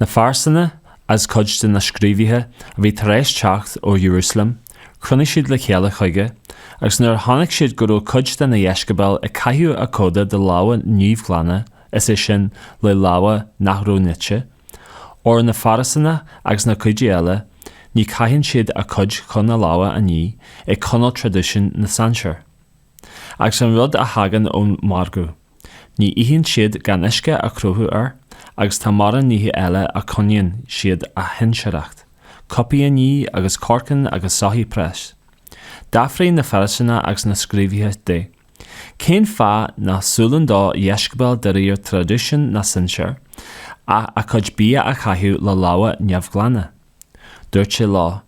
Na Fairisínigh as cuid de na scríobhaithe a bhí tar éis teacht ó Iarúsailéim, chruinnigh siad le chéile chuige, agus nuair a chonaic siad go raibh cuid de na dheisceabail ag caitheamh a coda de lámha neamhghlana, is é sin, le lámha nach raibh nite, óir na Fairisínigh agus na Giúdaigh eile, ní chaitheann siad a cuid chun a lámha a ní, ag coinneáil traidisiún na sinsear. Agus an rud a thagann ón margadh, ní itheann siad gan uisce a chroitheadh air agus tá mórán nithe eile a coinníonn siad a shinsearacht, cupaí a ní agus corcáin agus soithí práis. D'fhiafraigh na Fairisínigh agus na scríobhaithe de, Cén fáth ná siúlann do dheisceabail de réir traidisiún na sinsear, a chuid bia a chaitheamh le lámha neamhghlana? Dúirt sé leo,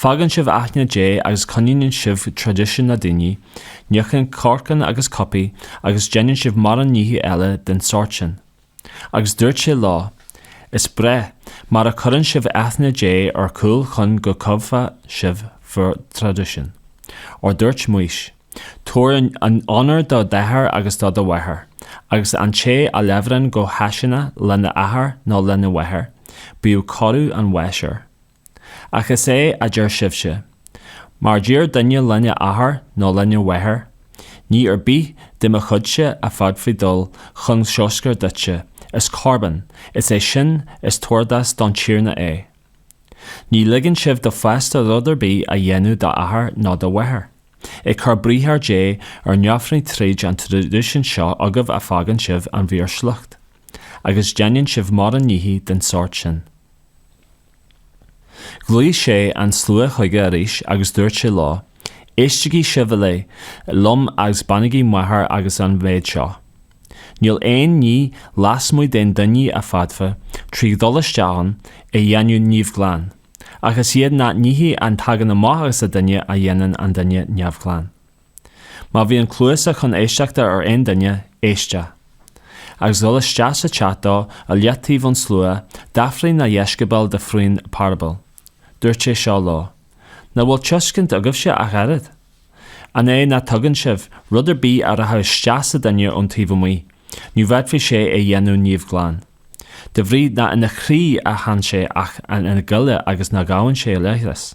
Fágann sibh aithne Dé agus coinníonn sibh traidisiún na daoine, níochán corcán agus cupaí agus déanann sibh mórán nithe eile den sórt sin. Agus dúirt sé leo, Is breá mar a cuireann sibh aithne Dé ar cúl chun go gcoimeádfadh sibh bhur dtraidisiún. Óir dúirt Maois, Tabhair onóir do d'athair agus do do mháthair, agus An té a labhrann go hachasánach lena athair nó lena mháthair, bíodh coradh an bháis air. Ach is é a deir sibhse, Má deir duine lena athair nó lena mháthair, Ní ar bith de mo chuidse a fhéadfadh dul chun sochair duitse, is corban is é sin is tabhartas don Tiarna é. Ní ligeann sibh dó feasta rud ar bith a dhéanamh d'athair nó do mháthair, ag cur briathar Dé ar neamhní tríd an traidisiún seo agaibh a fhágann sibh ag bhur sliocht, agus déanann sibh mórán nithe den sórt sin. Ghlaoigh sé an slua chuige arís agus dúirt sé leo, Éistigí sibh uile liom agus bainigí meabhair agus an méid seo. Níl aon ní lasmuigh den duine a fhéadfadh trí dhul isteach ann a dhéanamh neamhghlan, ach is iad na nithe a thagann amach agus a duine a dhéanann an duine neamhghlan. Má bhíonn cluasa chun éisteachta ar aon duine, éisteadh. Agus dhul isteach sa teach dó i leataobh ón slua, d'fhiafraigh na dheisceabail de faoin parabail. Dúirt sé seo leo, Ná bhfuil tuiscint agaibhse ach oiread? An é ná tuigeann sibh rud ar bith a rachadh isteach sa duine ón taobh amuigh, ní fhéadfadh sé é dhéanamh neamhghlan. De bhrí ná ina chroí a théann sé ach ina ghoile agus ná gabhann sé a leithreas.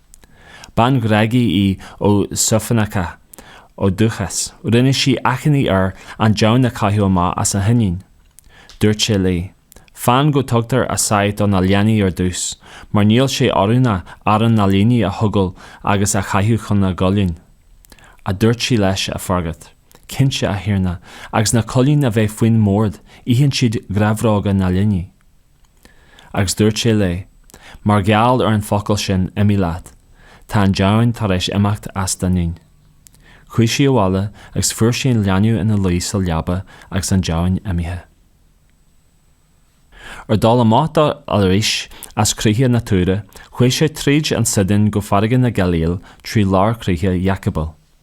Bean Ghréagach í Siorfhéiníceach ó dúchas. Rinne sí achainí air an deamhan a chaitheamh amach as a hiníon. Dúirt sé léi, Fan go dtugtar a sáith do na leanaí ar dtús, mar níl sé oiriúnach arán na leanaí a thógáil agus a chaitheamh chun na gcoileáin. Ach dúirt sí leis á fhreagairt, Cinnte, a Thiarna, agus na coileáin a bheith faoin mbord, itheann siad grabhróga na leanaí. Agus dúirt sé léi, Mar gheall ar an bhfocal sin imigh leat, tá an deamhan tar éis imeacht as d'iníon. Chuaigh sí abhaile agus fuair sí an leanbh ina luí sa leaba agus an deamhan imithe. Ar dhul amach dó arís as críocha na Tuíre, chuaigh sé tríd an Síodón go farraige na Gailíle trí lár chríche Dheacapóil.